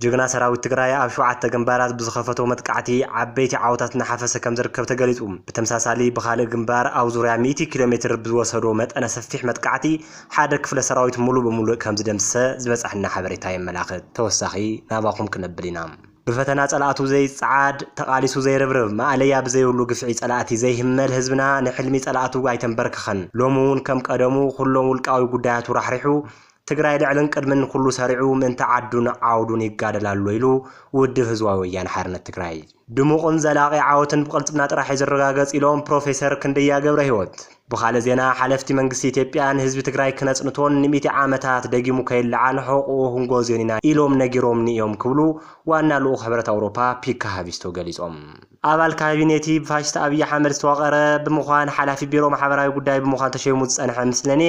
ጅግና ሰራዊት ትግራይ ኣብ ሸውዓተ ግንባራት ብዝኸፈቶ መጥቃዕቲ ዓበይቲ ዓወታት እናሓፈሰ ከምዝርከብ ተገሊፁ። ብተምሳሳሊ ብኻልእ ግንባር ኣብ ዙርያ ሚእቲ ኪሎ ሜትር ብዝወሰዶ መጠነ ሰፊሕ መጥቃዕቲ ሓደ ክፍለ ሰራዊት ሙሉእ ብሙሉእ ከምዝደምስሰ ዝበፀሐና ሓበሬታ የመላኽት። ተወሳኺ ናባኹም ክነብል ኢና። ብፈተና ፀላእቱ ዘይፀዓድ፣ ተቓሊሱ ዘይርብርብ፣ ማእለያ ብዘይብሉ ግፍዒ ፀላእቲ ዘይህመል ህዝብና ንሕልሚ ፀላእቱ ኣይተምበርከኸን። ሎሚ እውን ከም ቀደሙ ኩሎም ውልቃዊ ጉዳያቱ ራሕሪሑ ትግራይ ልዕልን ቅድምን ኩሉ ሰሪዑ ምእንቲ ዓዱን ዓውዱን ይጋደል ኣሎ ኢሉ ውድብ ህዝባዊ ወያነ ሓርነት ትግራይ። ድሙቕን ዘላቒ ዓወትን ብቕልፅምና ጥራሕ እዩ ዝረጋገፅ ኢሎም ፕሮፌሰር ክንደያ ገብረሂወት። ብኻልእ ዜና ሓለፍቲ መንግስቲ ኢትዮጵያ ንህዝቢ ትግራይ ክነፅንቶን ንሚእቲ ዓመታት ደጊሙ ከይለዓል ሕቑኡ ክንጎዝዮን ኢና ኢሎም ነጊሮምኒ እዮም ክብሉ ዋና ልኡኽ ሕብረት ኣውሮፓ ፒካ ሃቪስቶ ገሊፆም። ኣባል ካቢኔ'ቲ ብፋሽስት ኣብይ ኣሕመድ ዝተዋቐረ ብምዃን ሓላፊ ቢሮ ማሕበራዊ ጉዳይ ብምዃን ተሸይሙ ዝጸንሐ ምስለኔ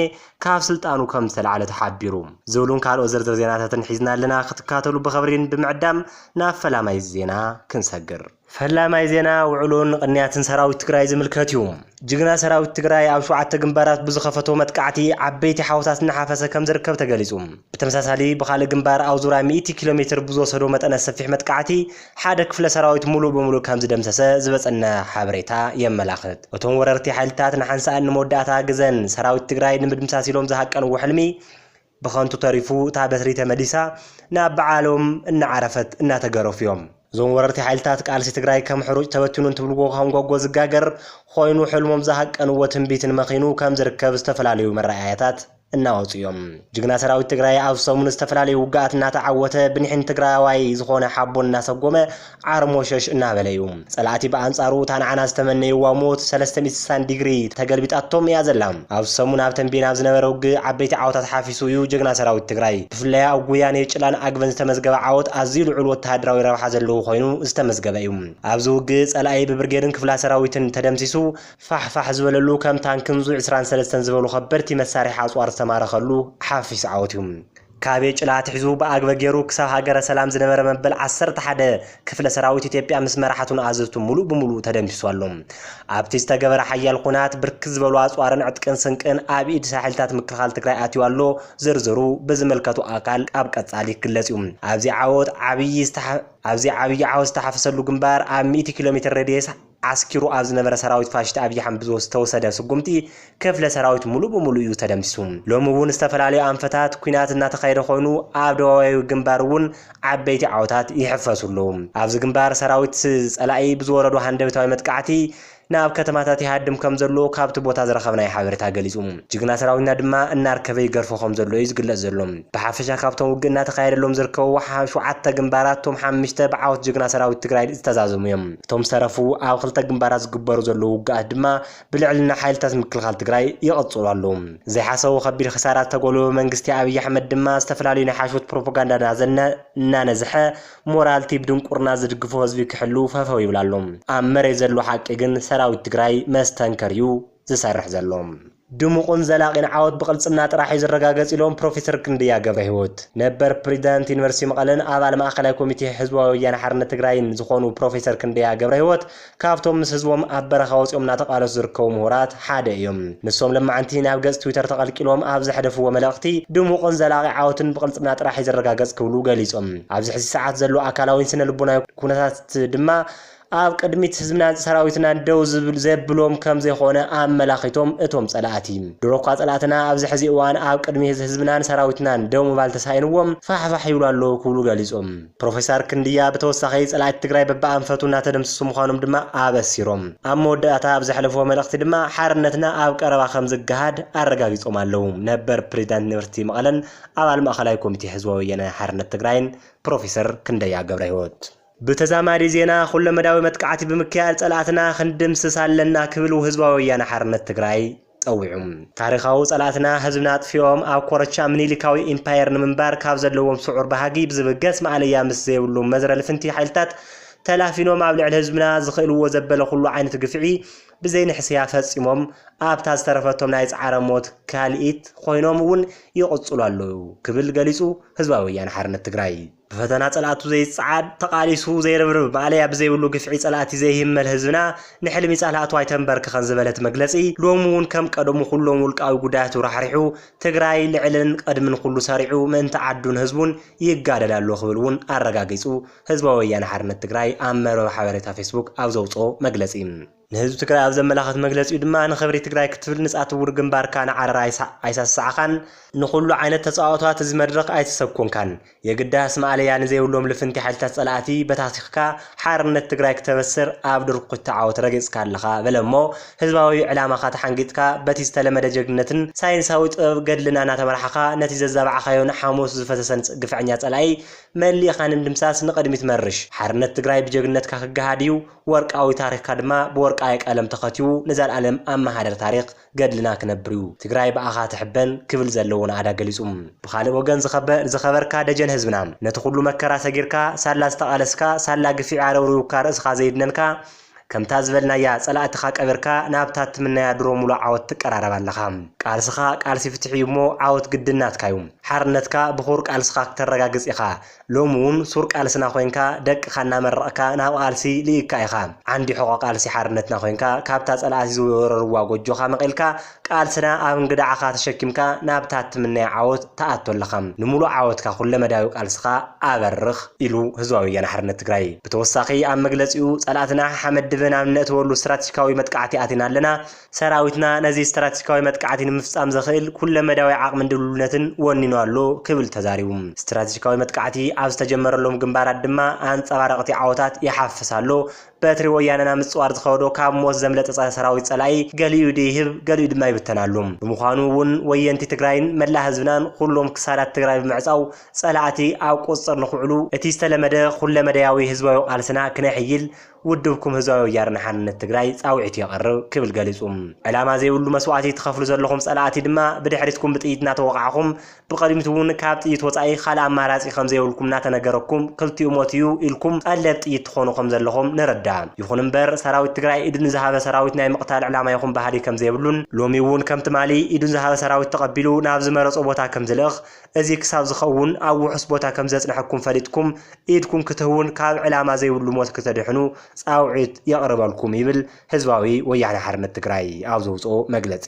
ካብ ስልጣኑ ከም ዝተላዕለ ተሓቢሩ። ዝብሉን ካልኦት ዝርዝር ዜናታትን ሒዝና ኣለና ክትካተሉ ብኸብሪን ብምዕዳም ናብ ፈላማይ ዜና ክንሰግር። ፈላማይ ዜና ውዕሎን ቕንያትን ሰራዊት ትግራይ ዝምልከት'ዩ። ጅግና ሰራዊት ትግራይ ኣብ ሸውዓተ ግንባራት ብዝኸፈቶ መጥቃዕቲ ዓበይቲ ሓወታት እናሓፈሰ ከምዝርከብ ተገሊፁ። ብተመሳሳሊ ብኻልእ ግንባር ኣብ ዙርያ ሚእቲ ኪሎ ሜትር ብዝወሰዶ መጠነ ሰፊሕ መጥቃዕቲ ሓደ ክፍለ ሰራዊት ሙሉእ ብሙሉእ ከምዝደምሰሰ ዝበፀና ሓበሬታ የመላኽት። እቶም ወረርቲ ሓይልታት ንሓንሳእን ንመወዳእታ ግዘን ሰራዊት ትግራይ ንምድምሳስ ኢሎም ዝሃቀንዎ ሕልሚ ብኸንቱ ተሪፉ እታ በትሪ ተመሊሳ ናብ ብዓሎም እናዓረፈት እናተገረፉ እዮም። እዞም ወረርቲ ሓይልታት ቃልሲ ትግራይ ከም ሕሩጭ ተበቲኑ እንትብልዎ ከም ጎጎ ዝጋገር ኾይኑ ሕልሞም ዝሃቀንዎ ትንቢትን መኺኑ ከም ዝርከብ ዝተፈላለዩ መረኣያታት እናወፁ እዮም። ጅግና ሰራዊት ትግራይ ኣብ ሰሙን ዝተፈላለዩ ውግኣት እናተዓወተ ብኒሕን ትግራዋይ ዝኾነ ሓቦን እናሰጎመ ዓርሞሸሽ እናበለ'ዩ። ጸላእቲ ብኣንጻሩ እታ ንዓና ዝተመነይዋ ሞት ሰለስተ ሚእቲ ስሳን ዲግሪ ተገልቢጣቶም እያ ዘላ። ኣብዚ ሰሙን ኣብ ተምቤን ኣብ ዝነበረ ውግእ ዓበይቲ ዓወታት ሓፊሱ እዩ ጀግና ሰራዊት ትግራይ። ብፍላይ ኣብ ጉያ ኔጭላን ኣግበን ዝተመዝገበ ዓወት ኣዝዩ ልዑል ወተሃደራዊ ረብሓ ዘለዎ ኮይኑ ዝተመዝገበ እዩ። ኣብዚ ውግእ ጸላኢ ብብርጌድን ክፍላ ሰራዊትን ተደምሲሱ ፋሕ ፋሕ ዝበለሉ ከም ታንክን ዙ ዕስራን ሰለስተን ዝበሉ ከበድቲ መሳርሒ ኣጽዋር ዝተማረኸሉ ሓፊስ ዓወት እዩ። ካብ የጭላ ኣትሒዙ ብኣግበ ገይሩ ክሳብ ሃገረ ሰላም ዝነበረ መበል ዓሰርተ ሓደ ክፍለ ሰራዊት ኢትዮጵያ ምስ መራሕቱን ኣዘዝቱን ሙሉእ ብሙሉእ ተደምሲሱ ኣሎ። ኣብቲ ዝተገበረ ሓያል ኹናት ብርክት ዝበሉ ኣፅዋርን ዕጥቅን ስንቅን ኣብ ኢድ ሓይልታት ምክልኻል ትግራይ ኣትዩ ኣሎ። ዝርዝሩ ብዝምልከቶ ኣካል ኣብ ቀፃሊ ክግለፅ እዩ። ኣብዚ ዓወት ዓብዪ ኣብዚ ዓብዪ ዓወት ዝተሓፈሰሉ ግንባር ኣብ ሚእቲ ኪሎ ሜትር ሬድየስ ዓስኪሩ ኣብ ዝነበረ ሰራዊት ፋሽስት ኣብይ ኣሕመድ ብዝተወሰደ ስጉምቲ ክፍለ ሰራዊት ሙሉእ ብሙሉእ እዩ ተደምሲሱ። ሎሚ እውን ዝተፈላለዩ ኣንፈታት ኩናት እናተኻየደ ኮይኑ ኣብ ደቡባዊ ግንባር እውን ዓበይቲ ዓወታት ይሕፈሱ ኣለው። ኣብዚ ግንባር ሰራዊት ፀላኢ ብዝወረዶ ሃንደበታዊ መጥቃዕቲ ናብ ከተማታት ይሃድም ከምዘሎ ካብቲ ቦታ ዝረኸብናዮ ሓበሬታ ገሊፁ። ጅግና ሰራዊትና ድማ እናርከበ ይገርፎ ከምዘሎ እዩ ዝግለፅ ዘሎ። ብሓፈሻ ካብቶም ውግእ እናተኻየደሎም ዝርከቡ ሸውዓተ ግንባራት እቶም ሓምሽተ ብዓወት ጅግና ሰራዊት ትግራይ ዝተዛዘሙ እዮም። እቶም ዝተረፉ ኣብ ክልተ ግንባራት ዝግበሩ ዘለዉ ውግኣት ድማ ብልዕልና ሓይልታት ምክልኻል ትግራይ ይቕፅሉ ኣለዉ። ዘይሓሰቡ ከቢድ ኺሳራ ዝተጎልበበ መንግስቲ ኣብይ ኣሕመድ ድማ ዝተፈላለዩ ናይ ሓሽውት ፕሮፖጋንዳ እናዘነ እናነዝሐ ሞራል እቲ ብድንቁርና ዝድግፎ ህዝቢ ክሕሉ ፈፈው ይብል ኣሎ። ኣብ መሬት ዘሎ ሓቂ ግን ሰራዊት ትግራይ መስተንከር እዩ ዝሰርሕ ዘሎ። ድሙቕን ዘላቒን ዓወት ብቕልፅምና ጥራሕ እዩ ዝረጋገፅ ኢሎም ፕሮፌሰር ክንደያ ገብረሂወት። ነበር ፕሬዚዳንት ዩኒቨርሲቲ መቐለን ኣባል ማእኸላይ ኮሚቴ ህዝባዊ ወያነ ሓርነት ትግራይን ዝኾኑ ፕሮፌሰር ክንደያ ገብረሂወት ካብቶም ምስ ህዝቦም ኣብ በረኻ ወፂኦም እናተቓለሱ ዝርከቡ ምሁራት ሓደ እዮም። ንሶም ለማዕንቲ ናብ ገፅ ትዊተር ተቐልቂሎም ኣብ ዘሕደፍዎ መልእኽቲ ድሙቕን ዘላቒ ዓወትን ብቕልፅምና ጥራሕ እዩ ዝረጋገፅ ክብሉ ገሊፆም። ኣብዚ ሕዚ ሰዓት ዘሎ ኣካላዊን ስነ ልቦናዊ ኩነታት ድማ ኣብ ቅድሚት ህዝብናን ሰራዊትናን ደው ዝብል ዘብሎም ከምዘይኾነ ኣመላኺቶም እቶም ፀላእቲ ድሮኳ ፀላእትና ኣብዚ ሕዚ እዋን ኣብ ቅድሚ ህዝብናን ሰራዊትናን ደው ምባል ተሳኢንዎም ፋሕ ፋሕ ይብሉ ኣለው ክብሉ ገሊፆም። ፕሮፌሰር ክንድያ ብተወሳኺ ፀላእቲ ትግራይ በቢኣንፈቱ እናተደምሰሱ ምዃኖም ድማ ኣበሲሮም። ኣብ መወዳእታ ኣብ ዘሕለፍዎ መልእኽቲ ድማ ሓርነትና ኣብ ቀረባ ከምዝገሃድ ኣረጋጊፆም ኣለው። ነበር ፕሬዚዳንት ዩኒቨርሲቲ መቐለን ኣባል ማእኸላይ ኮሚቴ ህዝባዊ ወያነ ሓርነት ትግራይን ፕሮፌሰር ክንደያ ገብረህይወት፣ ብተዛማዲ ዜና ኩለመዳዊ መጥቃዕቲ ብምክያድ ፀላእትና ክንድምስስ ኣለና ክብል ውህዝባዊ ወያነ ሓርነት ትግራይ ፀዊዑ። ታሪኻዊ ፀላእትና ህዝብና ኣጥፊኦም ኣብ ኮረቻ ምኒሊካዊ ኢምፓየር ንምንባር ካብ ዘለዎም ስዑር ባህጊ ብዝብገስ ማእለያ ምስ ዘይብሉ መዝረ ልፍንቲ ሓይልታት ተላፊኖም ኣብ ልዕሊ ህዝብና ዝኽእልዎ ዘበለ ኩሉ ዓይነት ግፍዒ ብዘይንሕስያ ፈፂሞም ኣብታ ዝተረፈቶም ናይ ፃዕረ ሞት ካልኢት ኾይኖም እውን ይቕፅሉ ኣለዉ ክብል ገሊፁ ህዝባዊ ወያነ ሓርነት ትግራይ። ብፈተና ጸላእቱ ዘይጸዓድ፣ ተቓሊሱ ዘይርብርብ፣ ማእለያ ብዘይብሉ ግፍዒ ጸላእቲ ዘይህመል ህዝብና፣ ንሕልሚ ጸላእቱ ኣይተንበርክኸን ዝበለት መግለጺ፣ ሎሚ'ውን ከም ቀደሙ ኩሎም ውልቃዊ ጉዳያቱ ራሕሪሑ፣ ትግራይ ልዕልን ቐድምን ኩሉ ሰሪዑ ምእንቲ ዓዱን ህዝቡን ይጋደል ኣሎ ክብል'ውን ኣረጋጊጹ ህዝባዊ ወያነ ሓርነት ትግራይ ኣብ መርበብ ሓበሬታ ፌስቡክ ኣብ ዘውጽኦ መግለጺ። ንህዝቢ ትግራይ ኣብ ዘመላኽት መግለጺኡ ድማ ንኽብሪ ትግራይ ክትብል ንጻትውር ግንባርካ ንዓረር ኣይሳሳዕኻን፣ ንኹሉ ዓይነት ተጻዋኦታት እዚ መድረኽ ኣይተሰብኮንካን፣ የግዳስ ማእለያ ንዘይብሎም ልፍንቲ ሓይልታት ጸላእቲ በታቲኽካ ሓርነት ትግራይ ክተበስር ኣብ ድርኩቲ ዓወት ረጊጽካ ኣለኻ በለ እሞ ህዝባዊ ዕላማኻ ተሓንጊጥካ በቲ ዝተለመደ ጀግንነትን ሳይንሳዊ ጥበብ ገድልን ኣናተመራሕኻ ነቲ ዘዛባዕኻዮን ሓሞቱ ዝፈሰሰን ግፍዐኛ ጸላኢ መሊእኻ ንምድምሳስ ንቕድሚት መርሽ። ሓርነት ትግራይ ብጀግንነትካ ክገሃድ እዩ። ወርቃዊ ታሪኽካ ድማ ብወርቃዊ ቀለም ተኸትቡ ንዘልኣለም ኣብ ማህደር ታሪኽ ገድልና ክነብር'ዩ። ትግራይ ብኣኻ ትሕበን ክብል ዘለዎ ናእዳ ገሊጹ። ብኻልእ ወገን ዝኸበርካ ደጀን ህዝብና፣ ነቲ ኩሉ መከራ ሰጊርካ፣ ሳላ ዝተቓለስካ፣ ሳላ ግፊዒ ኣረብሪቡካ ርእስኻ ዘዩድነንካ፣ ከምታ ዝበልናያ ጸላእትኻ ቀቢርካ ናብታ እትምነያ ድሮ ሙሉእ ዓወት ትቀራረብ ኣለኻ። ቃልስኻ ቃልሲ ፍትሒ'ዩ'ሞ ዓወት ግድን ናትካ'ዩ። ሓርነትካ ብኹቡር ቃልስኻ ክተረጋግጽ ኢኻ። ሎሚ ውን ሱር ቃልስና ኮይንካ ደቅኻ እናመረቕካ ናብ ቓልሲ ልኢክካ ኢኻ። ዓንዲ ሕቖ ቃልሲ ሓርነትና ኮይንካ ካብታ ጸላእቲ ዝወረርዋ ጎጆኻ መቒልካ ቃልስና ኣብ እንግድዓኻ ተሸኪምካ ናብታ እትምነያ ዓወት ትኣቱ ኣለኻ። ንምሉእ ዓወትካ ኩለመዳያዊ ቃልስኻ ኣበርኽ ኢሉ ህዝባዊ ወያነ ሓርነት ትግራይ። ብተወሳኺ ኣብ መግለጺኡ ጸላእትና ሓመድ ድበ ናብ እነእትወሉ ስትራቴጂካዊ መጥቃዕቲ ኣቲና ኣለና፣ ሰራዊትና ነዚ ስትራቴጂካዊ መጥቃዕቲ ንምፍፃም ዘኽእል ኩለመዳያዊ ዓቕምን ድልውነትን ወኒኑ ኣሎ ክብል ተዛሪቡ። ስትራቴጂካዊ መጥቃዕቲ ኣብ ዝተጀመረሎም ግንባራት ድማ ኣንፀባረቕቲ ዓወታት ይሓፍስ ኣሎ፣ በትሪ ወያነ ናብ ምፅዋር ዝኸዶ ካብ ሞት ዘምለጠ ፀረ ሰራዊት ፀላኢ ገሊኡ ኢዱ ይህብ ገሊኡ ድማ ይብተን ኣሎ። ብምዃኑ እውን ወየንቲ ትግራይን መላእ ህዝብናን ኹሎም ክሳዳት ትግራይ ብምዕፃው ፀላእቲ ኣብ ቁፅፅር ንኽውዕሉ እቲ ዝተለመደ ኹለመዳያዊ ህዝባዊ ቃልስና ክነሕይል ውድብኩም ህዝባዊ ወያነ ሓርነት ትግራይ ፃውዒቱ የቕርብ ክብል ገሊፁ። ዕላማ ዘይብሉ መስዋእቲ ትኸፍሉ ዘለኹም ፀላእቲ ድማ ብድሕሪትኩም ብጥይት እናተወቓዕኹም ብቐዲምት እውን ካብ ጥይት ወፃኢ ኻልእ ኣማራፂ ከምዘይብልኩም እናተነገረኩም ክልቲኡ ሞት እዩ ኢልኩም ቐለብ ጥይት ትኾኑ ከምዘለኹም ንርዳእ። ይኹን እምበር ሰራዊት ትግራይ ኢዱ ንዝሃበ ሰራዊት ናይ ምቕታል ዕላማ ይኹን ባህሊ ከምዘይብሉን ሎሚ እውን ከም ትማሊ ኢዱ ዝሃበ ሰራዊት ተቐቢሉ ናብ ዝመረፆ ቦታ ከምዝልእኽ እዚ ክሳብ ዝኸውን ኣብ ውሑስ ቦታ ከም ዘጽንሐኩም ፈሊጥኩም ኢድኩም ክትህቡን ካብ ዕላማ ዘይብሉ ሞት ክተድሕኑ ጻውዒት የቕርበልኩም ይብል ህዝባዊ ወያነ ሓርነት ትግራይ ኣብ ዘውጽኦ መግለጺ።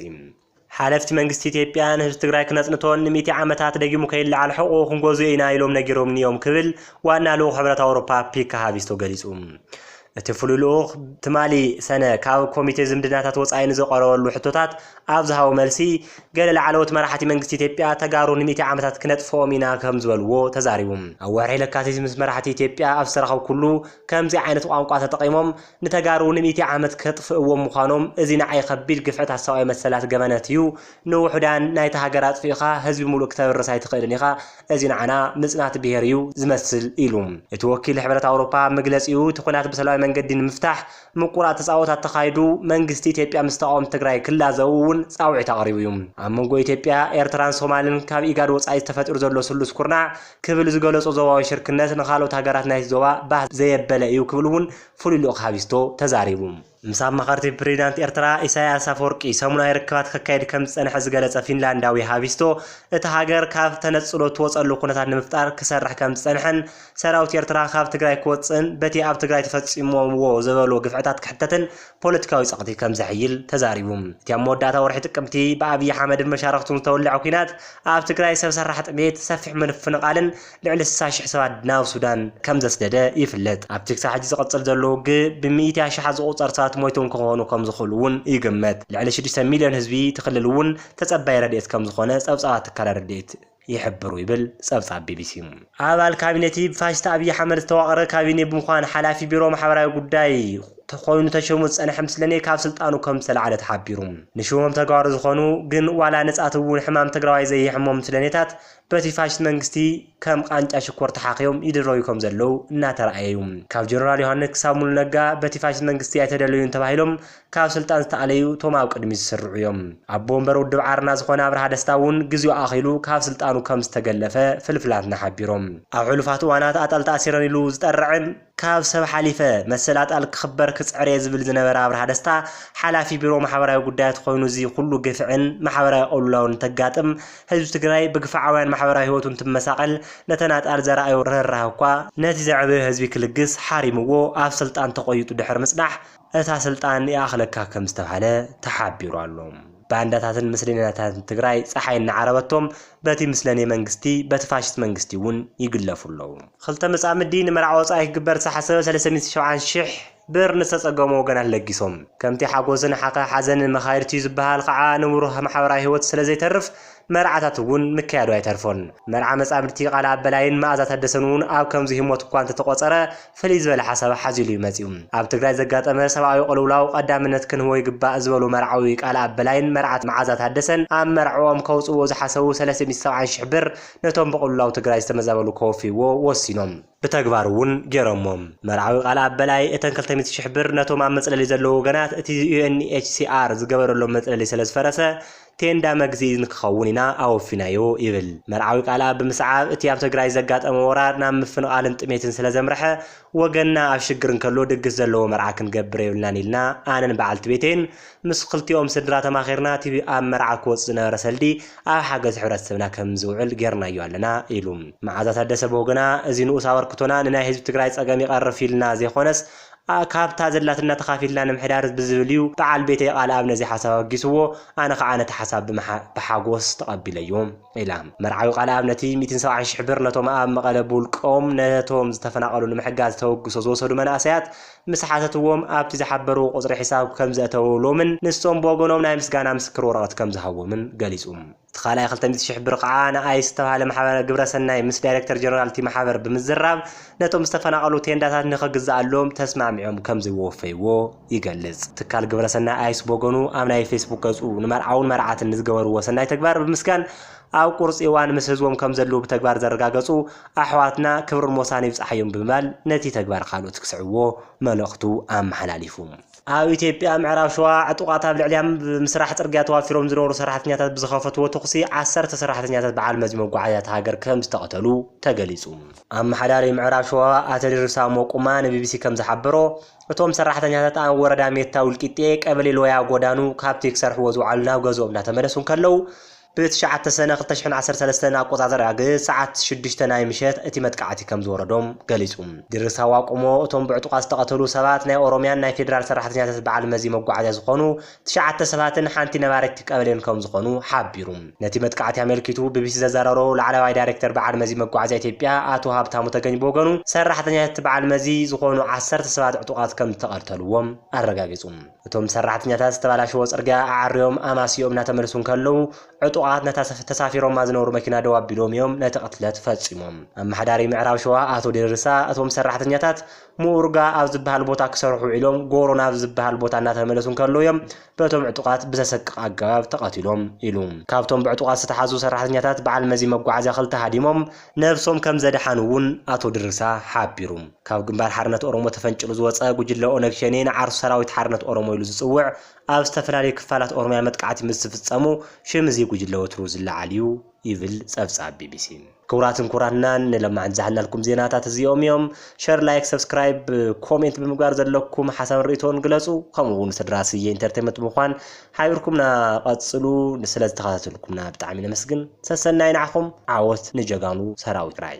ሓለፍቲ መንግስቲ ኢትዮጵያ ንህዝቢ ትግራይ ክነጽንቶን ንሚእቲ ዓመታት ደጊሙ ከይለዓል ሕቖኡ ክንጎዝዮ ኢና ኢሎም ነጊሮምኒ እዮም ክብል ዋና ልኡኽ ሕብረት ኣውሮፓ ፒካ ሃቪስቶ ገሊጹ። እቲ ፍሉይ ልኡኽ ትማሊ ሰነ ካብ ኮሚቴ ዝምድናታት ወፃኢ ንዘቐረበሉ ሕቶታት ኣብ ዝሃቦ መልሲ ገለ ላዕለዎት መራሕቲ መንግስቲ ኢትዮጵያ ተጋሩ ንሚእቲ ዓመታት ክነጥፍኦም ኢና ከምዝበልዎ ተዛሪቡ። ኣብ ወርሒ ለካቲት ምስ መራሕቲ ኢትዮጵያ ኣብ ዝተራኸብኩሉ ከምዚ ዓይነት ቋንቋ ተጠቒሞም ንተጋሩ ንሚእቲ ዓመት ከጥፍእዎም ምዃኖም እዚ ንዓይ ከቢድ ግፍዕታት ሰብኣዊ መሰላት ገበነት እዩ ንውሑዳን ናይታ ሃገር ኣጥፊእኻ ህዝቢ ሙሉእ ክተብርስ ኣይትኽእልን ኢኻ እዚ ንዓና ምጽናት ብሄር እዩ ዝመስል ኢሉ። እቲ ወኪል ሕብረት ኣውሮፓ ኣብ መግለጺኡ እቲ ኹናት ብሰላማዊ መንገዲ ንምፍታሕ ምቁር ኣተጻቦት ኣተኻይዱ መንግስቲ ኢትዮጵያ ምስ ተቓወምቲ ትግራይ ክላዘቡ እውን ጻውዒት ኣቕሪቡ እዩ። ኣብ መንጎ ኢትዮጵያ፣ ኤርትራን ሶማልን ካብ ኢጋድ ወጻኢ ተፈጢሩ ዘሎ ስሉስ ኩርናዕ ክብል ዝገለጾ ዞባዊ ሽርክነት ንኻልኦት ሃገራት ናይቲ ዞባ ባህ ዘየበለ እዩ ክብል እውን ፍሉይ ልኡኽ ሃቪስቶ ተዛሪቡ። ምስ ኣማኸርቲ ፕሬዚዳንት ኤርትራ ኢሳይያስ ኣፈወርቂ ሰሙናዊ ርክባት ከካይድ ከምዝጸንሐ ዝገለጸ ፊንላንዳዊ ሃቪስቶ፣ እታ ሃገር ካብ ተነጽሎ እትወጸሉ ኩነታት ንምፍጣር ክሰርሕ ከምዝጸንሐን ሰራዊት ኤርትራ ካብ ትግራይ ክወጽእን በቲ ኣብ ትግራይ ተፈጺሞምዎ ዘበሎ ግፍዕታት ክሕተትን ፖለቲካዊ ጸቕቲ ከምዘሕይል ተዛሪቡ። እቲ ኣብ መወዳእታ ወርሒ ጥቅምቲ ብኣብይ ሓመድን መሻርኽቱን ዝተወልዐ ኲናት ኣብ ትግራይ ሰብ ሰራሕ ጥሜት፣ ሰፊሕ ምፍንቓልን፣ ልዕሊ ስሳ ሽሕ ሰባት ናብ ሱዳን ከም ዘስደደ ይፍለጥ። ኣብቲ ክሳብ ሕጂ ዝቕጽል ዘሎ ውግእ ብሚእቲ ኣሽሓት ዝቑጸር ሰባት ሞይቶም ክኾኑ ከም ዝኽእሉ እውን ይግመት። ልዕሊ ሽዱሽተ ሚልዮን ህዝቢ እቲ ክልል እውን ተጸባዪ ረድኤት ከም ዝኾነ ጸብጻባት ትካላት ረድኤት ይሕብሩ ይብል ጸብጻብ ቢቢሲ። ኣባል ካቢነ'ቲ ብፋሽስት ኣብይ ኣሕመድ ዝተዋቕረ ካቢኔ ብምዃን ሓላፊ ቢሮ ማሕበራዊ ጉዳይ ኮይኑ ተሾሙ ዝጸንሐ ምስለኔ ካብ ስልጣኑ ከም ዝተላዕለ ተሓቢሩ። ንሽሞም ተጋሩ ዝኾኑ ግን ዋላ ንጻት እውን ሕማም ትግራዋይ ዘየሕሞም ምስለኔታት በቲ ፋሽስት መንግስቲ ከም ቓንጫ ሽኮር ተሓኺዮም ይድረዩ ከም ዘለዉ እናተራእየ ዩ። ካብ ጀነራል ዮሃንስ ክሳብ ሙሉ ነጋ በቲ ፋሽስት መንግስቲ ኣይተደለዩን ተባሂሎም ካብ ስልጣን ዝተኣለዩ እቶም ኣብ ቅድሚት ዝስርዑ ዮም። ኣቦ ወንበር ውድብ ዓረና ዝኾነ ኣብርሃ ደስታ ውን ግዜኡ ኣኺሉ ካብ ስልጣኑ ከም ዝተገለፈ ፍልፍላትና ሓቢሮም። ኣብ ሕሉፋት እዋናት ኣጣል ተኣሲረን ኢሉ ዝጠርዕን፣ ካብ ሰብ ሓሊፈ መሰል ኣጣል ክኽበር ክጽዕር'የ ዝብል ዝነበረ ኣብርሃ ደስታ፣ ሓላፊ ቢሮ ማሕበራዊ ጉዳያት ኾይኑ እዚ ኹሉ ግፍዕን ማሕበራዊ ቅልውላውን እንተጋጥም፣ ህዝቢ ትግራይ ብግፍዓውያን ማሕበራዊ ህይወቱ እንትመሳቐል ነተን ኣጣል ዘርኣዮ ርህራህ እኳ፣ ነቲ ዘዕበዮ ህዝቢ ክልግስ ሓሪምዎ ኣብ ስልጣን ተቖይጡ ድሕሪ ምጽናሕ፣ እታ ስልጣን ይኣኽለካ ከምዝተብሃለ ተሓቢሩ ኣሎ። ባንዳታትን ምስሌናታትን ትግራይ ጸሓይ እናዓረበቶም በቲ ምስለኔ መንግስቲ በቲ ፋሽስት መንግስቲ እውን ይግለፉ ኣለዉ። ኽልተ መጻምዲ ንመርዓ ወጻኢ ክግበር ዝተሓሰበ ሰለስተ ሚእቲ ሸውዓን ሽሕ ብር ንዝተጸገሙ ወገናት ለጊሶም። ከምቲ ሓጎስን ሓዘንን መኻይድቲ'ዩ ዝበሃል ኸዓ ንብሩህ ማሕበራዊ ህይወት ስለዘይተርፍ፣ መርዓታት እውን ምክያዱ ኣይተርፎን። መርዓ መጻምድቲ ቃል ኣብ በላይን መኣዛ ታደሰን እውን ኣብ ከምዚ ህሞት እኳ እንተተቖጸረ ፍልይ ዝበለ ሓሳብ ሓዚሉ እዩ መጺኡ። ኣብ ትግራይ ዘጋጠመ ሰብኣዊ ቅልውላው ቀዳምነት ክንህቦ ይግባእ ዝበሉ መርዓዊ ቃል ኣብ በላይን መርዓት መዓዛ ታደሰን ኣብ መርዕኦም ከውጽእዎ ዝሓሰቡ ሰለስተ ሚእቲ ሰብዓን ሽሕ ብር ነቶም ብቕልውላው ትግራይ ዝተመዛበሉ ከወፍይዎ ወሲኖም። ብተግባር እውን ገይሮሞ። መርዓዊ ቃል ኣበላይ እተን ክልተ ሚእቲ ሽሕ ብር ነቶም ኣብ መፅለሊ ዘለዉ ወገናት እቲ UNHCR ዝገበረሎም መፅለሊ ስለዝፈረሰ ቴንዳ መግዝኢ ንክኸውን ኢና ኣወፊናዮ ይብል። መርዓዊ ቃልኣብ ብምስዓብ እቲ ኣብ ትግራይ ዘጋጠመ ወራር ናብ ምፍንቓልን ጥሜትን ስለዘምረሐ ወገንና ኣብ ሽግር እንከሎ ድግስ ዘለዎ መርዓ ክንገብር የብልናን ኢልና ኣነን በዓልቲ ቤተይን ምስ ክልቲኦም ስድራ ተማኺርና እቲ ኣብ መርዓ ክወጽእ ዝነበረ ሰልዲ ኣብ ሓገዝ ሕብረተሰብና ከም ዝውዕል ጌርናዮ ኣለና ኢሉ። መዓዛ ታደሰ ብወገና እዚ ንኡስ ኣበርክቶና ንናይ ህዝቢ ትግራይ ጸገም ይቐርፍ ኢልና ዘይኮነስ ካብታ ዘላትና ተኻፊልና ንምሕዳር ብዝብል እዩ፣ በዓል ቤተይ ቃልኣብ ነዚ ሓሳብ ኣበጊስዎ ኣነ ከኣ ነቲ ሓሳብ ብሓጎስ ተቐቢለዮ ኢላ። መርዓዊ ቃልኣብ ነቲ ሚእትን ሰብዓን ሽሕ ብር ነቶም ኣብ መቐለ ብውልቆም ነቶም ዝተፈናቐሉ ንምሕጋዝ ተበግሶ ዝወሰዱ መናእሰያት ምስ ሓተትዎም ኣብቲ ዝሓበርዎ ቁጽሪ ሕሳብ ከምዘእተውሎምን ንሶም ብወገኖም ናይ ምስጋና ምስክር ወረቐት ከምዝሃብዎምን ገሊጹ። እቲ ካልኣይ ክልተ ሚእቲ ሽሕ ብር ከኣ ንኣይስ ዝተባህለ ማሕበረ ግብረ ሰናይ ምስ ዳይረክተር ጀነራል እቲ ማሕበር ብምዝራብ ነቶም ዝተፈናቐሉ ቴንዳታት ንኽግዝኣሎም ተስማዕሚዖም ከምዝወፈይዎ ይገልጽ። ትካል ግብረ ሰናይ ኣይስ ብወገኑ ኣብ ናይ ፌስቡክ ገጹ ንመርዓውን መርዓትን ንዝገበርዎ ሰናይ ተግባር ብምስጋን ኣብ ቁርፂ እዋን ምስ ህዝቦም ከምዘልዉ ብተግባር ዘረጋገፁ ኣሕዋትና ክብርን ሞሳን ይብፃሓዮም ብምባል ነቲ ተግባር ካልኦት ክስዕብዎ መልእኽቱ ኣመሓላሊፉ። ኣብ ኢትዮጵያ ምዕራብ ሸዋ ዕጡቓት ኣብ ልዕሊ ኣብ ምስራሕ ፅርግያ ተዋፊሮም ዝነበሩ ሰራሕተኛታት ብዝኸፈትዎ ተኹሲ ዓሰርተ ሰራሕተኛታት በዓል መዚ መጓዓዝያ እታ ሃገር ከምዝተቐተሉ ተገሊፁ። ኣመሓዳሪ ምዕራብ ሸዋ ኣቶ ድርሳም ሞቁማ ንቢቢሲ ከምዝሓበሮ፣ እቶም ሰራሕተኛታት ኣብ ወረዳ ሜታ ውልቂጤ ቀበሌ ሎያ ጎዳኑ ካብቲ ክሰርሕዎ ዝውዓሉ ናብ ገዝኦም እናተመለሱ እንከለዉ ብ ትሽዓተ ሰነ ክልተ ሽሕን ዓሰርተ ሰለስተን ኣቆጻጽራ ብ ሰዓት ሽዱሽተ ናይ ምሸት እቲ መጥቃዕቲ ከም ዝወረዶም ገሊጹ። ድርብ ሳዋ ቆሞ እቶም ብዕጡቓት ዝተቐተሉ ሰባት ናይ ኦሮሚያን ናይ ፌደራል ሰራሕተኛታት በዓል መዚ መጓዓዝያ ዝኾኑ ትሽዓተ ሰባትን ሓንቲ ነባሪት ቀበሌን ከም ዝኾኑ ሓቢሩ። ነቲ መጥቃዕቲ ኣመልኪቱ ቢቢሲ ዘዘራረቦ ላዕለዋይ ዳይሬክተር በዓል መዚ መጓዓዝያ ኢትዮጵያ ኣቶ ሃብታሙ ተገኝ ብወገኑ ሰራሕተኛታት እቲ በዓል መዚ ዝኾኑ ዓሰርተ ሰባት ዕጡቓት ከም ዝተቐተልዎም ኣረጋጊጹ። እቶም ሰራሕተኛታት ዝተባላሸወ ጽርግያ ኣዐርዮም ኣማስይኦም እናተመልሱ እንከለዉ፣ ዕጡቓት ነታ ተሳፊሮማ ዝነበሩ መኪና ደው ኣቢሎም እዮም ነቲ ቅትለት ፈጺሞም። ኣመሓዳሪ ምዕራብ ሸዋ ኣቶ ዴርሳ፣ እቶም ሰራሕተኛታት ምኡርጋ ኣብ ዝበሃል ቦታ ክሰርሑ ውዒሎም ጎሮ ናብ ዝበሃል ቦታ እናተመለሱ እንከለዉ እዮም በቶም ዕጡቓት ብዘሰቅቕ ኣገባብ ተቐቲሎም ኢሉ። ካብቶም ብዕጡቓት ዝተታሕዙ ሰራሕተኛታት በዓል መዚ መጓዓዝያ ክልተ ሃዲሞም፣ ነብሶም ከምዘድሓኑ'ውን ኣቶ ድርሳ ሓቢሩ። ካብ ግንባር ሓርነት ኦሮሞ ተፈንጪሉ ዝወጸ ጉጅለ ኦነግ ሸኔ ንዓርሱ ሰራዊት ሓርነት ኦሮሞ ኢሉ ዝጽውዕ ኣብ ዝተፈላለዩ ክፋላት ኦሮምያ መጥቃዕቲ ምስ ዝፍጸሙ ሽም እዚ ጉጅለ ወትሩ ዝለዓል'ዩ ይብል ጸብጻብ ቢቢሲ። ክቡራትን ክቡራትናን ንሎማዕንቲ ዝሓልናልኩም ዜናታት እዚኦም እዮም። ሸር ላይክ ሰብስክራይብ ኮሜንት ብምግባር ዘለኩም ሓሳብን ርእይቶን ግለጹ ከምኡ'ውን ስድራ ስየ ኢንተርቴመንት ብምዃን ሓቢርኩምና ቀጽሉ ንስለ ዝተኸታተልኩምና ብጣዕሚ ነመስግን ሰሰናዩ ንዓኹም ዓወት ንጀጋኑ ሰራዊት ትግራይ።